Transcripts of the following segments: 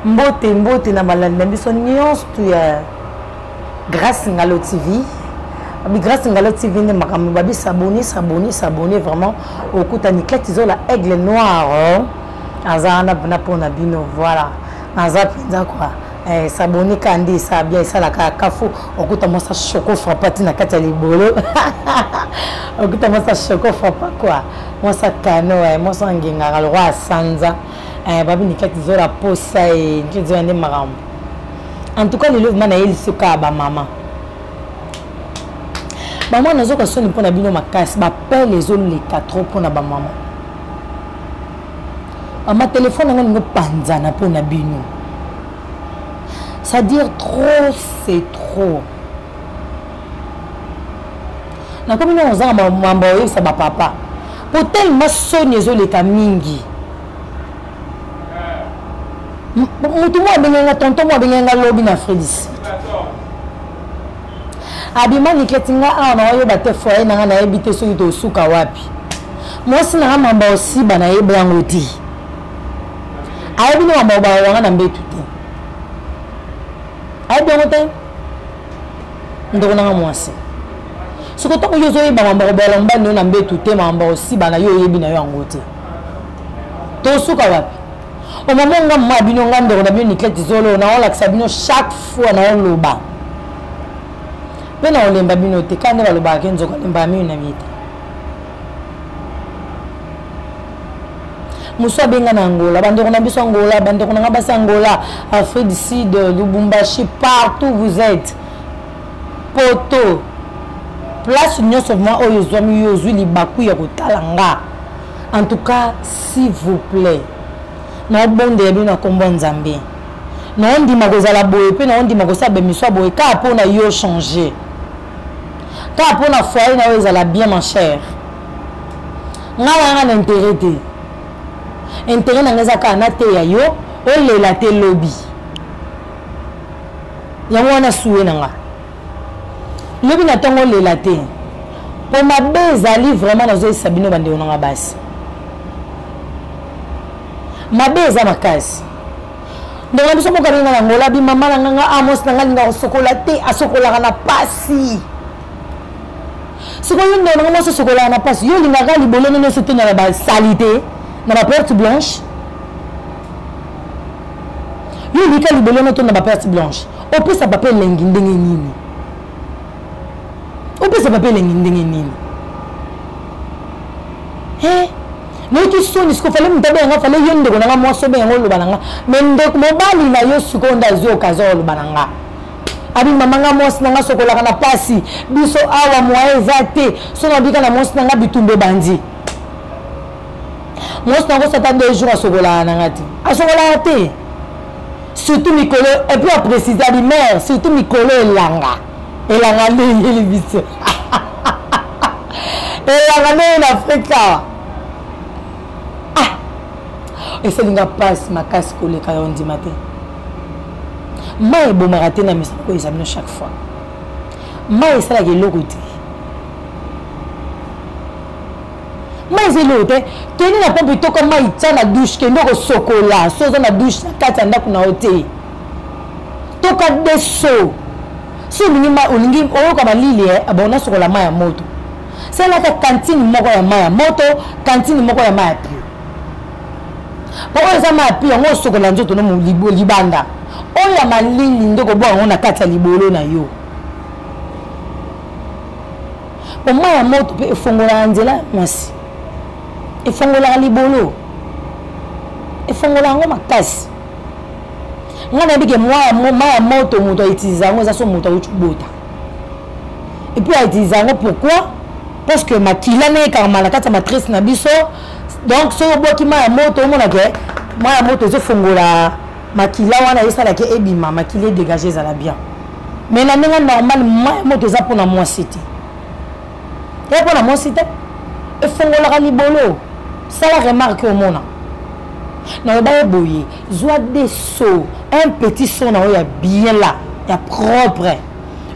mbote mbote na balandi na biso nyonso tu ya grace ngalo tv grace ngalo tv nde makambo babi sabone sabone sabone vraiment okuta niklete zola aigle noir oh. aza wana mpena mpo na bino voilà naza mpenza kua eh, sabone ka nde esa bien esalaka kafu okuta mwasa choco frappa ti na kati ya libolo okuta mwasa choco frappa kua mwasa kano eh, mwasa ngengaka lokwa asanza eh, babi nikati zola posa e nti zola nde makambo en tout cas lelo vrima naye lisokaa bamama bamama nazoka soni mpo na bino makasi bapele ezoleka trop mpo na bamama mama telefone yango ningo panzana mpo na bino c'est-à-dire trop c'est trop nakomi nano ozanga mambo ya koyebisa bapapa mpo telema soni ezoleka mingi motu moko abengeli nga tonton moko abengeli nga lobi na fredis abima niketi nga awa na wayoba te foye na nga nayebi te soki tosuka wapi mwasi na nga mamba osiba nayebi yango te ayebi nde mamba obawanga na mbetu te ayebi yango te ndeko nanga mwasi soki ntango yo ozoyeba mambo kobola mobali yo na mbetu te mambo osiba na yo oyebi na yo yango te tosuka wapi omama nga mma bino nga ndeko na bino niklete zolo naolakisa bino chaque fois naoloba mpe naolemba bino te kaka nde balobaka ke nzoka lembaka mino na mie te mosu abenga na angola bandeko na biso angola bandeko na nga basi angola afrique du sud lubumbashi partout vous êtes poto place nyonso vrima oyo ozwami yo ozwi libaku ya kotala nga en tout cas s'il vous plaît naobondela bino na nkombo ya nzambe naondima kozala boye mpe naondima kosala bemiso ya boye kaka mpo na yo changer kaka mpo na foyer na yo ezala bien ma chère nga nanga na intérêt te intérêt nanga eza kaka nateya yo olela te lobi yango wana suwe na nga lobi na ntongo olela te mpo mabe ezali vraiment nazoyesa bino bandeko na nga basi mabe eza makasi ndeko na biso moko alinga na ngola bimama na nganga amos ah, na ngai linga kosokola te asokolaka na pasi sikoyo ndeko nanga mwasi osokolaka na pasi yo olingaka libolo no nyonso te na basalite na baperte blanche yo olika libolo no to na baperte blanche opesa papa elengi ndenge nini opesa papa elengi ndenge nini eh, nayoki soni siko fale moto abenga nga fale yo ndeko na nga mwasi obenga nga oloba na nga me ndeko mobali na yo sikoyo nde azwi okazio oloba na nga abi mama nga mwasi na nga sokolaka na pasi biso awa moye eza te so nabika na mwasi na nga bitumba ebandi mwasi na yango sata nde jour asokolaka na nga te asokolaka te surtout mikolo et puis aprécisa limaire surtout mikolo elanga elanga nde eyeli biso elanga nde ye na afrika ah esalinga mpasi makasi koleka yo ndima te mai ebomaka te na misa moko eza bino chaque fois mai esalaka eloko te mai eza eloko te kende na pompe toka mai tya na douche kende kosokola so oza na douche na kati ya ndako na yo te toka de so so olingi olingi oyoka malili e abo nasokola mai ya moto salaka kantine moko ya mai ya moto kantine moko ya mai ya pio po oyo eza mai ya pio yango osokola nzoto no libanda oyo ya malili nde kobwa yango na kati ya libolo na yo mpo mai ya moto mpe efongolaka nzela ya mwasi efongolaka libolo efongolaka yango makasi ngai nayebi ke mai ya moto moto autiliza yango eza so moto auti kobota epuis autiliza yango pourquoi parce que makila na ekangama na kati ya matrice na biso donc soki obwaki mai ya moto omonake mai ya moto ezofongola makila wana esalaki ebima makila edégage ezala bien mais na ndenge normal mai moto eza mpona mwasi te eza mpona mwasi te efongolaka libolo sala remarke omona naloba ye boye zwa de so un petit son na oyo ya bien la ya propre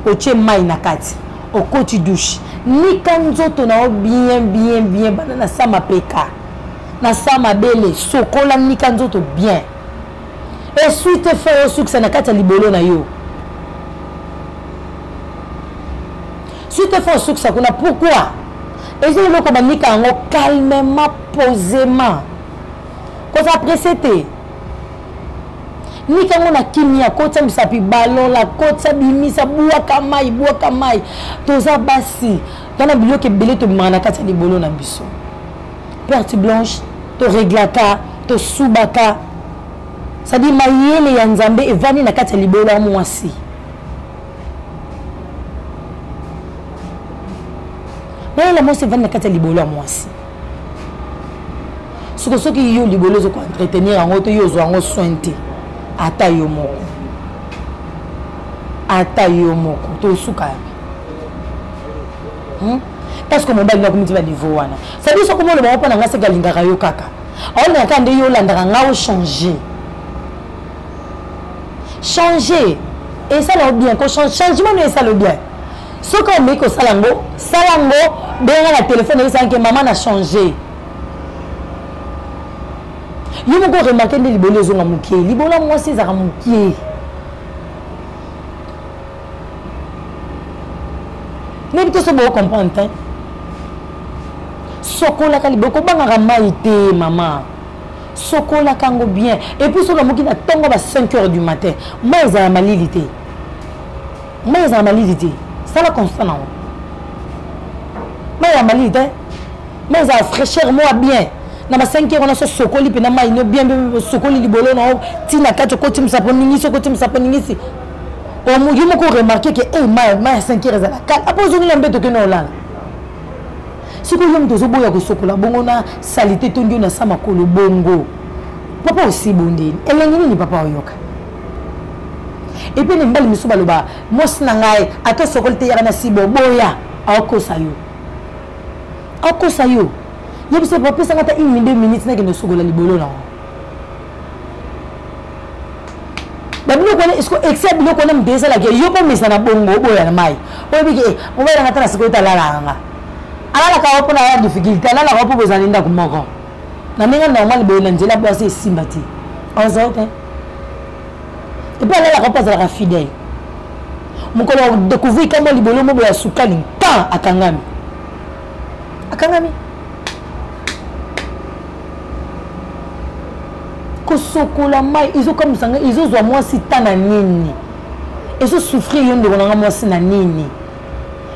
otie mai na kati okoti douche nika nzoto na yo bien bien bien banda na sa mapeka na sa mabele sokola nika nzoto bien eswi te fo osukisa na kati ya libolo na yo swi te fo osukisa kuna pourkui eza eloko banika yango calmement posément koza presse te nika yango na kimia kotya misapi balola kotya bimisa bwaka mai bwaka mai toza basi tana biloko ebele tobimaka na kati ya libolo na biso perte blanche toreglaka tosubaka cestadire mayele ya nzambe evandi na kati ya libolo ya mwasi mayele ya mwasi evandi na kati ya libolo ya mwasi soko soki yo libolo ozo koentretenir yango to yo ozwa yango soin te ata yo moko ata yo moko tosuka hmm? parce que mobali nga komiti ba niveau wana ça dit soko moloba mpo na nga seke alingaka yo kaka aolingaka kaka nde yo olandaka nga ochange change esala yo bien changement no esala yo bien soki omeki kosala yango sala yango benga na telefone esanke mama na change yo moko oremake nde libolo ezonga mokie libolo ya mwasi ezalaka mokie nayebi te so boko comprendre te sokolaka libe okobangaka mai te mama sokolaka yango bien epuis soki amoki na ntongo ba 5 heures du matin mai ezala malili te mai ezala malili te sala constant nango mai ya malili te mai ezala fraîcheur moa bien na ba 5 heures wana so sokoli mpe na mai no bien osokoli libolo na yo ntina kati okotimisa mpo ningisi okotimisa mpo ningisi yo moko remarke ke e mai mai ya 5 heure ezala kala apo ozongi na mbeto okende olala soki oyo moto ozoboya kosokola bongo na salite tondi oyo na sa makolo bongo papa osi bondeli elengi nini papa oyoka epuis na mibali mosusu baloba mwasi na ngai ata osokoli te yaka na sibo boya aokosa yo akosa yo yebisa bapesaka ata une minute minute nakende osokola libolo na yango babiloko wana esko excès biloko wana mpe ezalaka yo mpo mesa na bongo oboya na mai oyebiki e mobali yanga ata na sikoyo te alalaka nga alalaka wa mpo na ya difficulté alalaka wa mpo bozali ndako moko na ndenge normal boye na nzela bwasi esimba te ozali te epuis alalaka wa mpo azalaka fidèle mokolo ya découvrir kamwa libolo mobo ya sukali ntan akangami akangami kosokola mai ezokamwisa ngai ezozwa mwasi ta na nini ezosouffrir yo ndeko na ngai mwasi na nini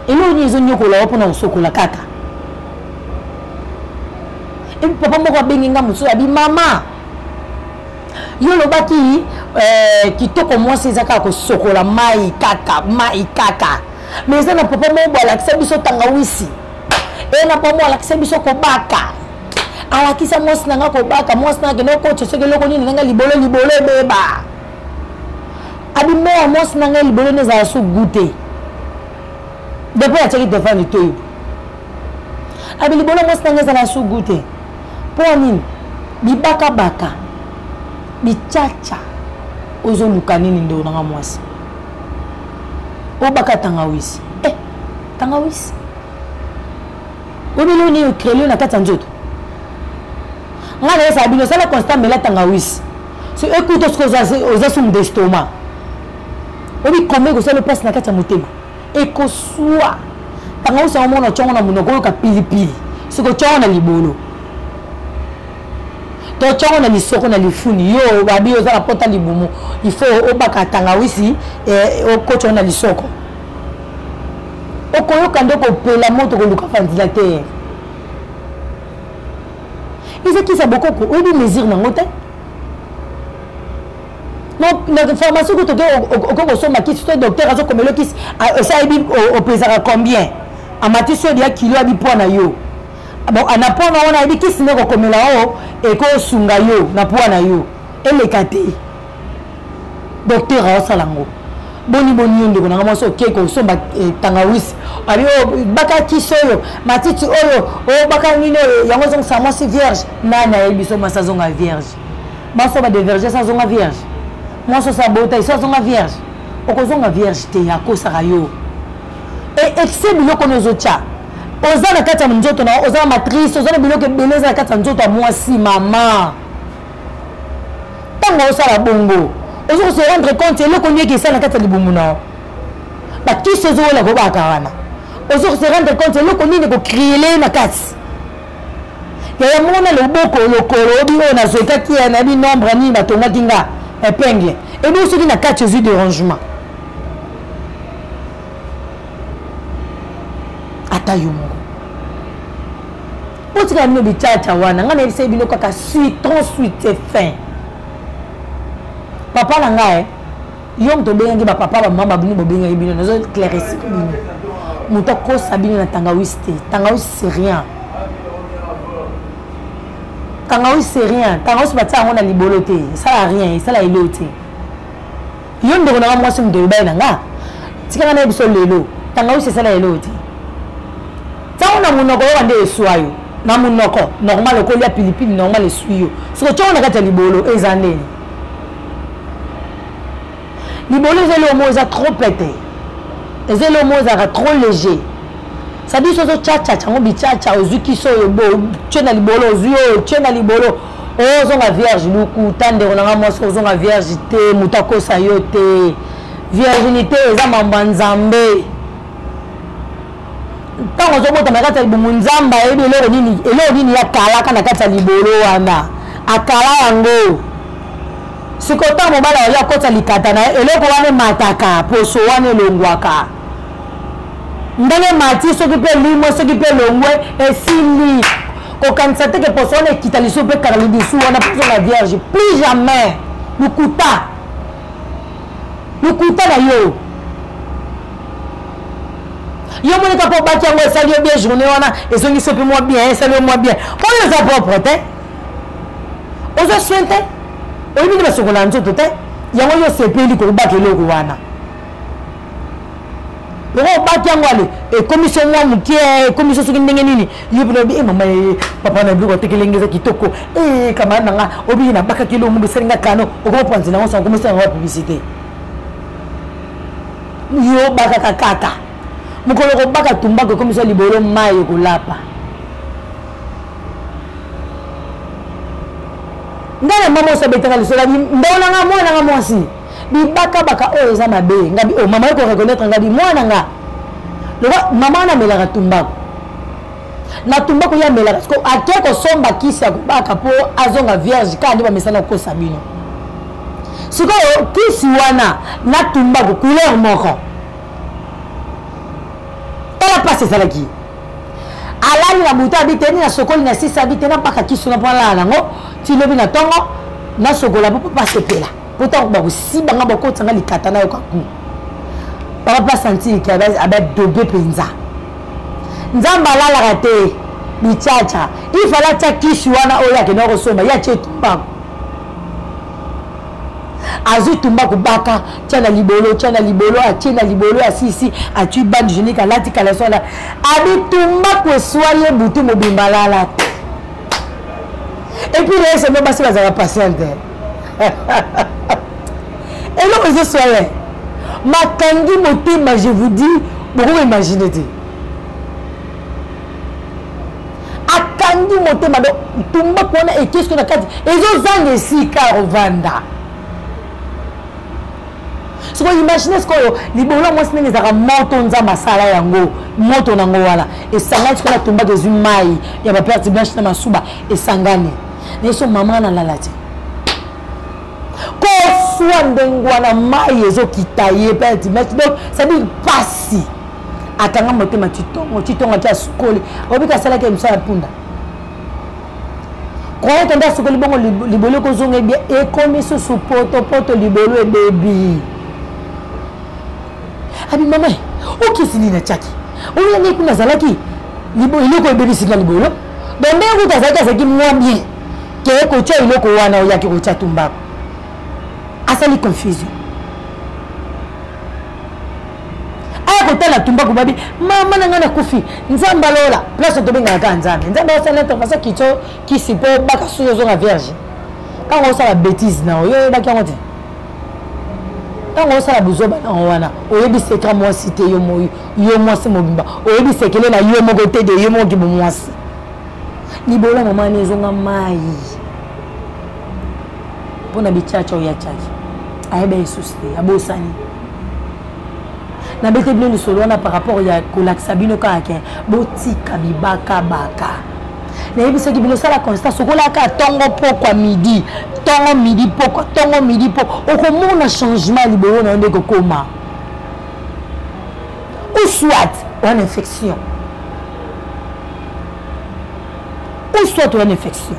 eloko nini ezonyokola yo mpona kosokola kaka epi papa moko abengi ngai mosusu abi mama yo olobaki eh, kitoko mwasi eza kaka kosokola mai kaka mai kaka mais eza na papa moko boalakisa biso tangawisi eye na papa moko alakisa biso kobaka alakisa mwasi na nga kobaka mwasi na akende okotisa soki eloko nini na nga libolo libolo ebeba abimela mwasi na ngai libolo nde ezala so gu te depuis atiaki telefone litoyi abi libolo mwasi na ngai ezala so gu te mpo ya nini bibakabaka bicaca ozoluka nini ndeko na nga mwasi obaka tangawisi eh, tangawisi obele oni yo crelio na kati ya nzoto ngai nayesaka bino osala constat mela tangawisi so ekuta soki oza sumu d'estoma obi koma ekosala mpasi na kati ya motema ekoswa tangawisi yango mona otyongo na monoko oyoka pilipili soki otyongo na libolo to tyongo na lisoko na lifuni yo babi oza na pota libumu il faut obaka tangawisi eh, okotyongo na lisoko okoyoka nde kopela moto koluka ventilateur eza kisa bokoko oyebi mesure nango te na pharmacie kutu oke okoki kosomba kisi to docteur azokomela kisi esayebi opesaka combien amatisi oyo ya kilo abi poids na yo na poids na wana ayebi kisi nde kokomela oyo ekosunga yo na poids na yo eleka te docteur aosala yango boni boni yo ndeko nanga mwasi okei kosomba eh, tangawisi abi oyo oh, baka kisi oyo matiti oyo oyo oh, baka nini oyo yango ezongisa mwasi vierge nani ayebi so mwasi azonga vierge mwasi oyo badeverge so azonga vierge mwasi oso abota iso azonga vierge okozonga vierge te akosaka yo e excès biloko oyo ozotya oza na kati ya nzoto na oza na matrice oza na biloko ebele eza na kati ya nzoto ya mwasi mama ntango osala bongo ozo ko se rendre compte eloko nini eke esala na kati ya libumu na yo bakisi ozokola kobaka wana ozo ko se rendre compte eloko nini ekokriele na kati yaya moko na loboko lokolo obi oyo nazwekaki ya nayebi nombre nini batongaki nga epingle ebongo soki na kati ozwi derangement ata yo moko botika bino bicaca wana ngai nayebisaki bino kaka suitron suite fin papa na ngai eh, yo moto obengaki bapapa bamama babini bobengaki bino nazo clairesi bino moto akosa bino na tangawisi te tangawisi c'est rien tangawisi c'est rien tangawisi batia yango na libolo te esala rien esala eloo te yo ndeko na nga mwasi moto ebaye na nga tika nga na ye biso lelo tangawisi esala lelo te ntango na monoko yoka nde eswa yo na monoko normal okolia pilipili normal eswi yo soki otyoko na kati ya libolo eza ndeni libolo eza eloko moko eza trop pete eza eloko moko ezalaka trop léger sadi sozo chachacha yango bichacha ozwi kisi oyo otye na libolo ozwi oyo otye na libolo ozonga vierge lokuta ndeko na nga mwasi kozonga vierge te moto akosa yo te virginité eza mambo ya nzambe ntango ozobotama na kati ya libongo nzambe ayebi eloko nini eloko nini akalaka na kati ya libolo wana akala yango sikoyo ntango mobali akoki akota likata na ye eloko wana emataka poso wana elongwaka ndenge mati soki mpe elimwe soki mpe elongwe esili kokanisa te ke poso wana ekita lisusu mpe kaka lidusu wana mpe ozonga vierge plus jamais lokuta lokuta na yo yo moni kaka obaki yango esali yo bien journée wana ezongisi mpe mwa bien esali yo mwa bien oyo eza propre te ozo soin te oyebi nde basokola nzoto te yango yo osepeli kobaka eloko wana yango obaki yango ale ekomi so mwa moke eh, ekomi so soki ndenge nini ye mpona obi e eh, mama ye eh, papa na biloko atekelenge eza kitoko e kamara na nga obiye nabakaki eloko mobo esali nga kano okoma panzi na yango sango komesala yango ya publicité yo bakaka kaka mokolo kobaka tumbako ekomi so libolo mai ekolapa ngai na mama osabetaka lisolo abi ndao na nga mwana na nga mwasi bibakabaka oyo eza mabe ngabi oyo oh, mama yoko reconnaître ngabi mwana nga loba mama wana amelaka tumbako na tumbako ye amelaka siko ake kosomba kisi ya kobaka mpo azonga vierge kaka nde bamesana kokosa bino sikoyo kisi wana na tumbako couleur moko tala mpasi ezalaki alali na butu abi te ni na sokoli na sisi abi te nabaka kisi wana mpo alala nango ti lobi na ntongo nasokola mpo papa asepela pota bakosiba nga bakotisa nga likata nayo kaku papa mpe asantire ke abadobe mpenza nzambe alalaka te bichacha ifale atya kisi wana oyo akenda kosomba ye atye tumbaku azwi tumbaku baka tya na libolo tya na libolo atye na libolo asisi atyi bande genique alati kalaso ala abi tumbaku eswa ye butu mobimba alala te epuis na eseno basi bazalaka patiente eloko ezoswa ye makangi motema je vous dis bokoko imagine te akangi motema do tumbaku wana ekesko na kati ezozanga esika ovanda sikoyo imagine sikoyo libolo ya mwasi ndenge ezalaka moto nzambe asala yango moto nango wana esangani sikoyo na tumbaka ezwi mai ya baperte blanche na masuba esangani nayeso mama nalala te koswa ndenge wana mai ezokita ye peti donc cestadire mpasi akanga motema titongo titongo ake asukoli obika asalaki emiso ya mpunda koyete nde asukoli bongo libolo ekozonga ebie ekomi susu potopoto libolo ebebi abi mama okisi nini atyaki oyo yangai kuna azalaki eloko ebebisi nga libolo donc ndenge kuta azalaki azalaki mwa bien ke kotya eloko wana oyaki kotya tumbako asali confusion aya kotala tumbako babi mama na ngai nakufi nzambe alola place tobengaka kaka nzambe nzambe asala intervention kitso kisi mpo baka suki ozonga vierge ntango osala bétise na oyo oyebaki yango te ntango osala buzoba na yango wana oyebi seka mwasi te yo moyi yo mwasi mobimba oyebi sekele na yo moko te de yo moko kibo mwasi libola mama ani ezonga mai mpo na bicaca oyo acaki ayeba esusi te abosani nabete bino lisolo wana par rapport ya kolakisa bino kaka ke botika bibakabaka nayebisaki bino sala constance okolaka ntongo pokwa midi ntongo midi pokwa ntongo midi po okomona changement ya libolo na yo nde kokoma ou soit oa na infection ou soit oa na infection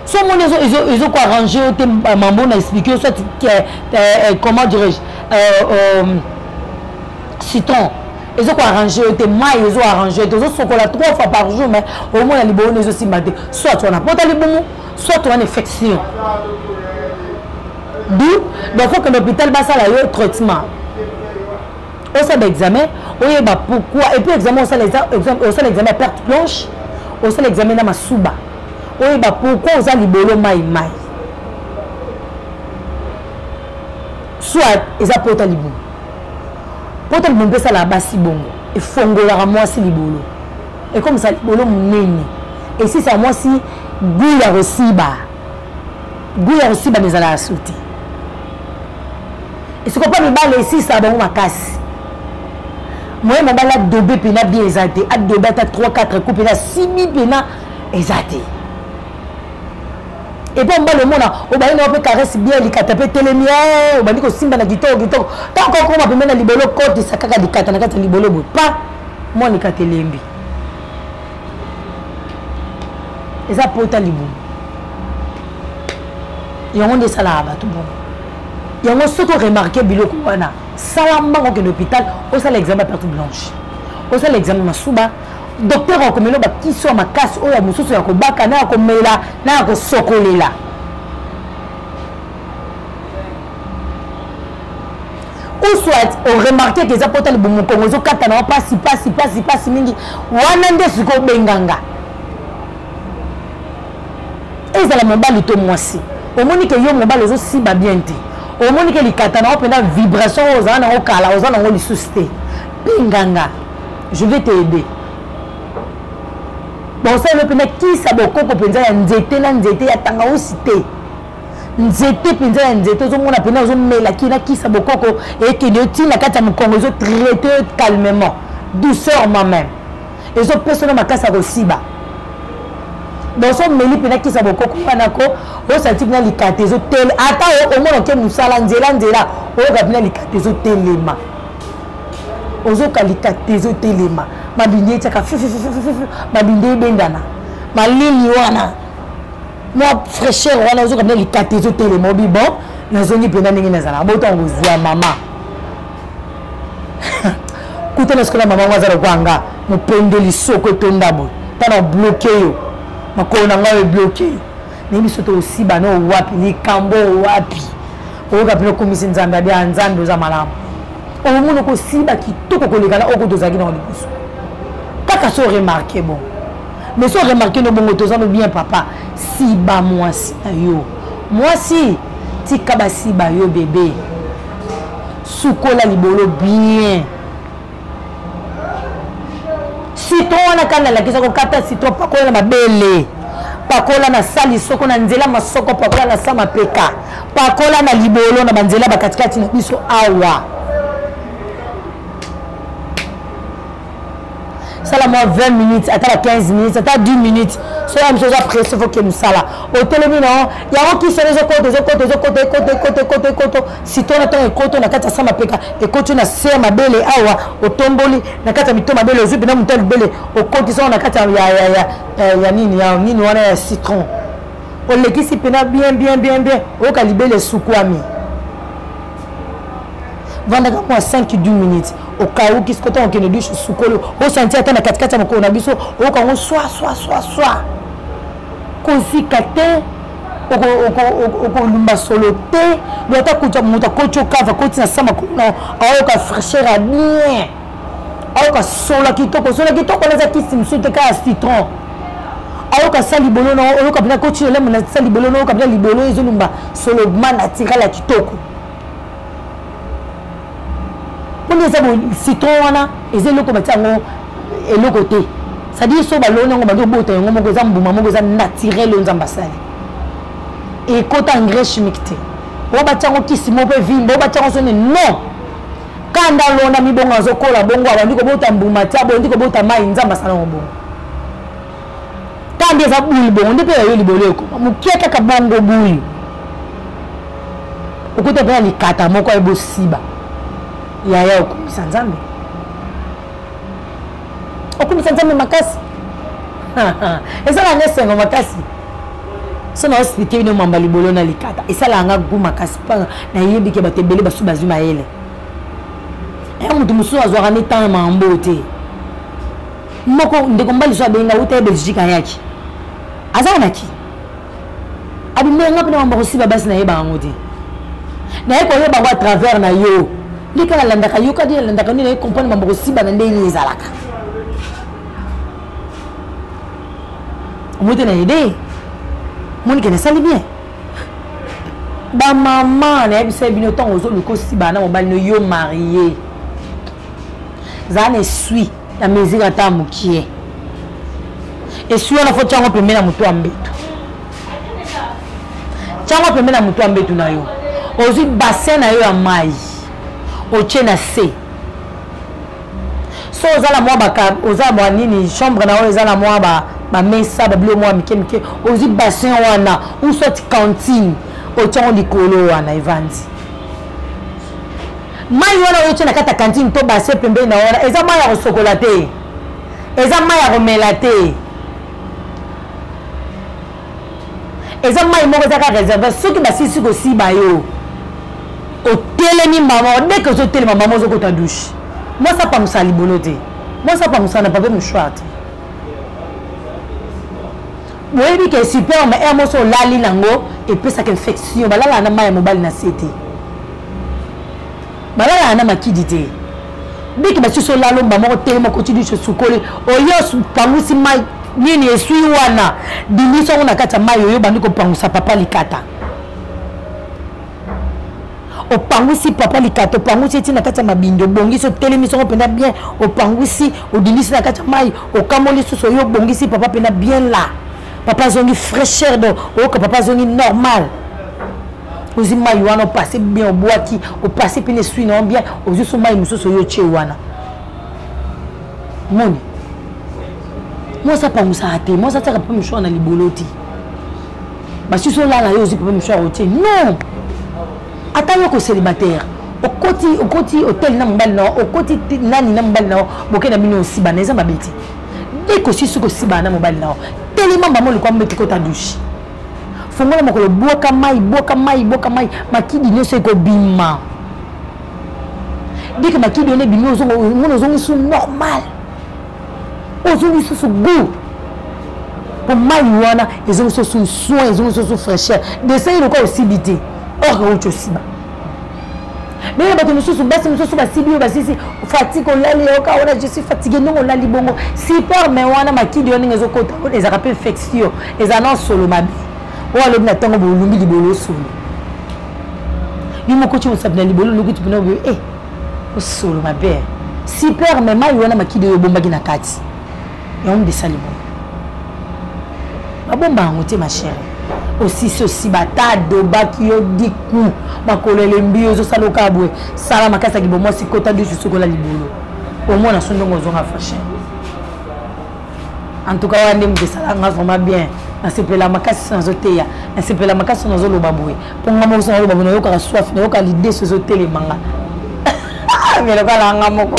so omoni ezokoa arrange yo te mambo na explike yo soit eh, eh, comment dirais-je euh, euh, citron ezokoa arrange yo te mai ezo arrange yo te ozosokola trois fois par jour mais omona liboyo na ezosimba te soit oa na pota libumu soit oa na infection du donc faut kende hôpital basala yo traitement osala baexamen oyeba pourquoi epuis examen osala examen ya perte blanche osala examen na masuba oyeba pourquoi oza libolo mai mai soit eza pota libumu pota libumu mpe esalaka basi bongo efongolaka mwasi libolo ekomisa libolo monene esisa mwasi gout ya kosiba gout ya kosiba ezalaka su te esiko mpo mibali esisaka bango makasi moye mobali adobe mpena bien eza te adobe ata 3 4 coup mpena sibi mpena eza te epuis mobali omona obandi nao mpe caresse bien likata mpe telemi eh, obandi kosimba na kitoko kitoko ntango kokoma pembe na libolo kotisa kaka likata na kati ya libolo boye pa mwana likata elembi eza pota libumu yango nde esalaka bato bongo yango soki oremarke biloko wana sala mbango okende hôpital osala examen ya perte blanche osala examen masuba docteur akomela bakisi ya makasi oyo ya mosusu ya kobaka na ya komela na ya kosokolela ou soit oremarke ke eza pota libumu mokongo ezokatana wa pasi pasi pasi pasi mingi wana nde sikoy obenganga ezala mobali to mwasi omoni ke yo mobali ozosiba bien te omoni ke likatana wa mpenza vibration oyo ozala nango kala oza nango lisusu te benganga je vais te aider bakosalelo mpenza kisa bokoko mpenza ya nzete na nzete ya tangausi te nzete mpenza ya nzete ozomona mpenza ozomela kina kisa bokoko ekende yo ntina kati ya mokongo ezotraite yo calmement douceurement même ezopesa no makasi ya kosiba bonso omeli mpenza kisa bokoko wana ko osanti mpena likata ezotele ata omona oke mosala nzela nzela oyoka mpena likata ezotelema ozoka likata ezotelema mabindi etyaka mabindi ebendana malili wana mwa fraîcheur wana ozoka mpe likata ezotelema obi bon nazongi mpenza ndenge nazalaka bota yango zwa mama kuta na sikola mama yango aza lokola nga mopende lisoko etonda boye mpo na bloke yo makolo na ngai ebloke yo naye biso tosiba na owapi likambo owapi oyoka mpena okomisi nzambe abia nzambe oza malamu omoni okosiba kitoko koleka na oko tozalaki nango liboso kaka so remarke bon mais so remarke no bongo toza no bien papa siba mwasi na yo mwasi tika basiba yo bebe sukola libolo bien citron wana kanda alakisa kokata citron pakola na mabele pakola na sali soko na nzela masoko pakola na sa mapeka pakola na libolo na banzela bakatikati na biso awa sala mwa 20 minutes ata ba 15 minutes ata 10 minutes soki mosu oza presse foke mosala otelemi na yango yango kisi yango ezokota ezokota ezokota ekota ekota ekota ekoto sito na ntango ekoto na kati ya sa mapeka ekoti na se ya mabele awa otomboli na kati ya mito mabele ozwi mpena moto ya libele okoti sango na kati ya nini ya nini wana ya citron olekisi mpena bien bien bien bien oyoka libele esukwami vandaka mwa 5 10 minutes okauki siko ntango okende dushe osukoli osanti ata na katikati ya mokolo na biso oyoka yango swa swa swa swa kozika te okolumba solo te do ata kuta moto akoti okava koti na sa makolo na aoyoka fraîcheur ya bien ayoka sola kitoko sola kitoko naza kisi mosusu te kaka citron ayoka sa libolo na oyoka mpena koti elemo na sa libolo na oyoka mpena libolo ezolumba solobma naturel ya kitoko mpona eza citron wana eza eloko batia yango eloko te cestadire so baloni yango bandi obota yango moko eza mbuma moko eza naturel oyo nzambe asali ekota engrais chimique te oyo batya yango kisi moko mpe vimba oyo batya yango soni non kanda lona mibongo azokola bongo abandi kobota mbuma te abondi kobota mai nzambe asala yango bongo Tande eza boule bongo nde mpe ya yo libolo eko mokie kaka bongo boule okuta mpe na likata moko aye bosiba yaya okumisa nzambe okumisa nzambe makasi esalaka nga esengo makasi so na osilike bino mamba libolo na likata esalaka nga gu makasi mpo nayebi ke bato ebele basusu bazwi mayele ya moto mosusu azwaka ne ntango mambo te moko ndeko mobali so abenga uta ye belgique ayaki aza na ki abimela nga mpena mambo akosiba basi na ye bango te naye koyeba yango à travers na yo nde kaka alandaka yo kadi alandaka nde naye comprendre mambo kosiba na ndenge nini ezalaka omote na ede monike nasali bien bamama nayebisa bino ntango ozoluka osiba na mobali no yo marie zala na esui na mesure ata mokie eswi wana fo tyango pembe na moto ya mbetu tyango pembe na moto ya mbetu na yo ozwi bassin na yo ya mai otye na se so oza na mwa baka oza mwa nini chambre na oyo eza na mwa bamesa babilo mwa mike mike ozwi bassin wana ou soit cantine otyango likolo wana evandi mai wana oyotie na kati ya kantine to base pembeni na wana eza mai ya kosokola te eza mai ya komela te eza mai moko ezaka réserve soki basilisi kosiba yo otelemi mama deke ozotelema mama ozokota dushe mwasi apamusa libolo te mwasi apamusa na papier mouchoir te boyebi ke superme air mosi olali nango epesaka infection balalaka na mai ya mobali na se te balalaka na makidi te biki basusu olala omba moko telema koti dusu osukoli oyo opangusi mai nini esui wana bimisi yango na kati ya mai oyo obandi kopangusa papa likata opangwisi papa likata opangwisi eti na kati ya mabindi obongisi otelemi songo mpenza bien opangwisi odindisi na kati ya mai okamoli susu oyo obongisi papa mpenza bien la papa azongi fraîcheur do oyoka papa azongi normal ozwi mai wana opase bien obwaki opase mpe na eswi na yo bien ozwi so mai mosusu oyo otye wana moni mwasi apangusaka te mwasi atiaka mpe moswana libolo te basusu olala yo ozwi papa mishwar otie non ata yo kocelibataire okoti okoti hotel na mobali na okoti nani na mobali na boke na bino osibana eza mabe te ekosisi kosibana na mobali na yo telema mbama olukwa mbeti kota dushe fongola makolo bwaka mai bwaka mai bwaka mai makidi nyonso ekobima deke makidi wana ebimi omona ozongisu normal ozongi susu gout po mai wana ezongi susu soin ezongi susu fraîcheur desai lokola osibi te or euti osiba ndenge bato mosusu basi mosusu basibi oyo basisi fatike olali yoka wana je suis fatigue ndenge olali bongo super mai wana makidi yo ndenge ezokota ezalaka mpe infection ezala na osolo mabe oyo alobi na ntango bolumbi libolo osolo yo moko ti mosapi na libolo oluki ti mpena oyo e eh, osolo mabe super me mai wana makidi oyo obombaki na kati yango nde esali boye babomba yango te ma chere osisi osiba ata adobaki yo diku makolo elembi yo ezosala okaa boye sala makasi ya kibomwasi kota dusu sokola libolo omona so ndongo ozonga fashin en tout cas wana nde moto esala nga vraiment bien nasepela makasi so nazoteya nasepela makasi so nazoloba boye mpo nga moko so naloba boye nayokaka soif nayokaka lide so ezotelema nga mais lokola nga moko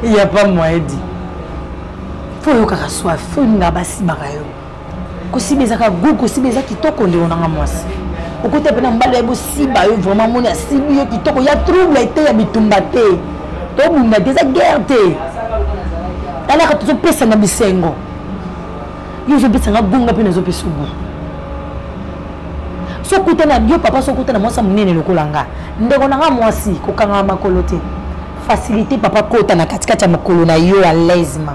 ya pa moyen di fo oyokaka soif fo olinga basimaka yo kosiba ezaka gu kosiba eza kitoko ndeko nanga mwasi okota mpe na mbala ya bosiba yo vraiment moni asibi yo kitoko ya trouble ete ya bitumba te tobunda te eza guerre te talaka tozopesana bisengo yo ozopesanga gonga mpe nazopesa ogo sokutana yo papa sokutana mwasi ya monene lokola nga ndeko na nga mwasi kokangama makolo te facilité papa kota na katikati ya makolo na yo ya lesma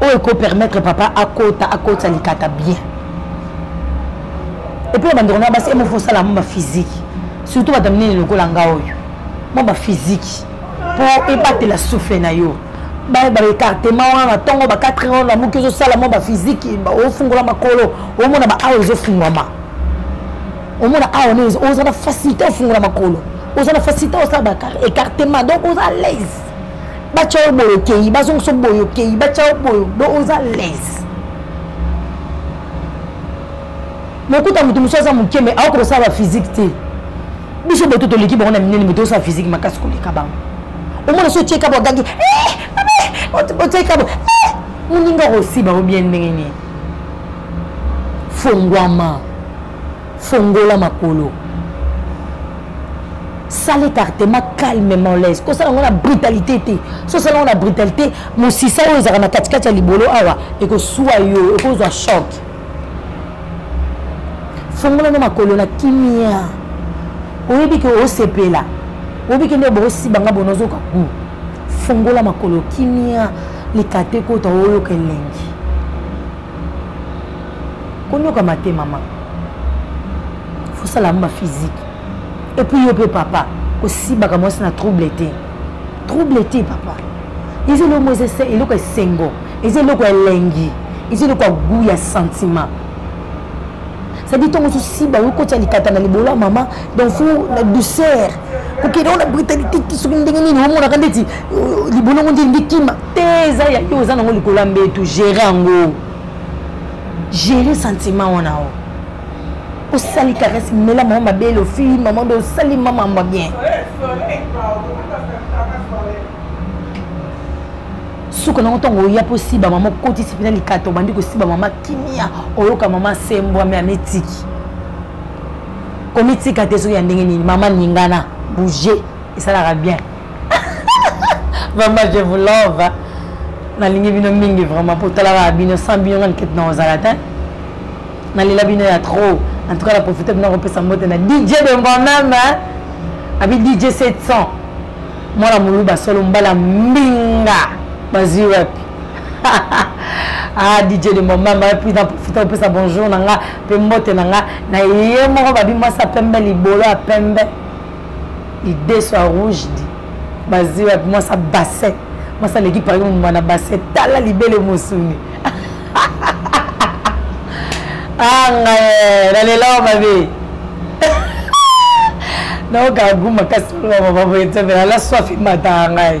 oyo eko permettre papa akota akotisa likata bien epuis bandeko na basi emofo osala mwa bafiziki surtout bato minene lokola nga oyo mwa bafiziki mpo ebatela souffle na yo baecartema wana na ntongo ba 4 heure na moki ozosala mwa bafiziki ofungola makolo omona baawa ezofungwama omona awa oza na facilité ofungola makolo oza na facilité osala baecartema donc oza alaise batya yo boye okei bazongisa boye okei batya yo boye do oza lese mokuta moto mosusu aza moke mai aokoka kosala baphysique te biso boto toleki bango na minene moto osala physique makasi koleka bango omona so otie kabo agangi eh, otie kabo eh, moninga okosiba o bien ndenge nini fongwama fongola makolo sala écartement calmement laise kosala yango na brutalité te so osala yango na brutalité mosisa oyo ezalaka na katikati ya libolo awa ekosua yo ekozwa choc fongola no makolo na kimia oyebi ke osepela oyebi ke nde boosiba nga bona ozoka ku fongola makolo kimia likate kota oyoka elengi konyokama te mama fosala yango ba physique epuis yo mpe papa kosibaka mwasi na trouble te trouble te papa eza eloko eza eloko ya esengo eza eloko ya elengi eza eloko ya gout ya sentiment cestadi ntongo mosusu siba yo kotya likata na libolo ya mama donc fo na douceur kokende wana britani tiki soki ndenge nini omonaka ndeti euh, libolo yango nde elingi kima te eza ya yo oza nango likolo ya mbetu gere yango gere sentiment wana o osali karese mela mama mabele ofili mama nde osali mama mwa bien suka nango ntango oya mpo osiba mama okotisi mpena likata obandi kosiba mama kimia oyoka mama asembwami amitiki komitika te soki ya ndenge nini mama ningana bouge esalaka bien vraiment je vous love hein. nalingi bino mingi vraiment mpo otalaka bino sans bino nga likete na ozala te nalela bino ya trop en tout cas naprofite bino kopesa mbote na dj de moi-même abi dj 700 mwana moluba solo mbala mbinga bazwi wapi ah dj de mon mama puis na profita opesa bonjour na nga mpe mbote na nga na ye moko babi mwasi ya pembe libolo ya pembe lideso ya rouge di bazi wapi mwasi ya bassin mwasi aleki par exemple mwana bassin tala libele mosuni anga ah, nalelao mabe naoka gu makasi oloba mama boye te mpe nala swafi mata ngai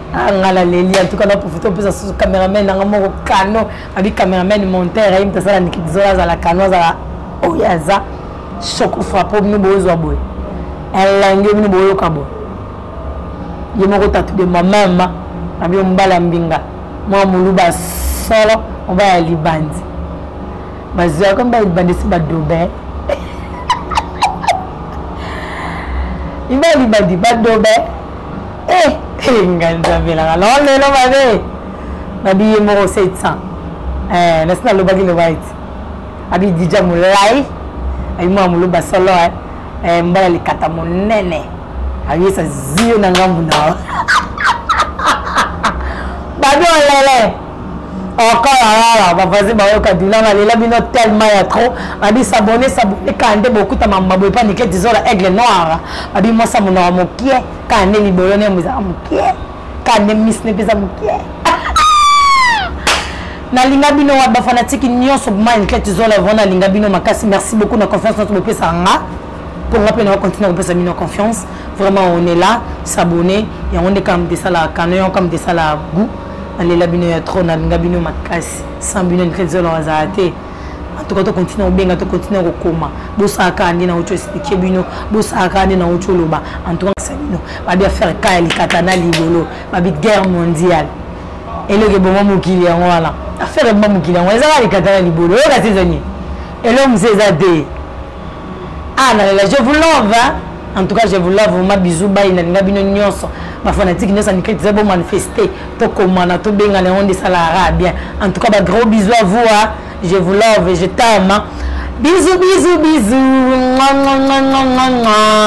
Ah, nga na leli en tout cas na profite opesa susu cameraman nanga moko kano abi cameraman monteur ayi moto asala nikizola azala kano azala oyo aza choco frappe bino bozwa boye elangi yo bino boyoka boye ye moko tatu de mamama abi ombala mbinga mwa moluba solo oba ya libandi bazwi yako mba libandi esi badobe iba libandi badobe eh, eh, ngai nzambe elaka loo lelo mabe nabi ye moko 700 eh, nasi nalobaki loba ete abi dija molai abi mwana moloba solo eh, eh, mbala likata monene ayesa ziyo na ngambu na yo babi olele okolalala bavazi bayoka dula nalela bino tellement ya trop babi sabone sabone kande bokutama maboye pa nike dizola aigle noir babi mosa monoko mokie kaka nde libolo na yango ezalaka moke kaka nde misi na epeza moke nalinga bino wa bafanatiki nyonso mantlete zola vraimen nalinga bino makasi merci beaucoup na confiance nyonso bopesaka nga mpo nga mpe naokontinue kopesa bino confiance vraiment on est là s'abonner yango nde kaka moto esalaka kano yango kaka moto esalaka gout nalela bino ya trop nalinga bino makasi sans bino ntlete zola wazala te en tout cas to continue kobenga to continue kokoma bosala kaka nde nauti explike bino bosala kaka nde nauti oloba en tout cas bino babi affaire ka ya likata na libolo babi guerre mondiale eloko eboma mokili yango wana affaire eboma mokili yango ezaka likata na libolo oyo kasi ezani eloko mosusu eza te ah nalela je vous love hein? en tout cas je vous love vraiment bisous bayi nalinga bino nyonso bafanatike nyonso ya mikili toza bomanifeste tokomana tobengana yango nde esalaka bien en tout cas bagros bisous à vous hein? je vous love je tama bisous bisous bisous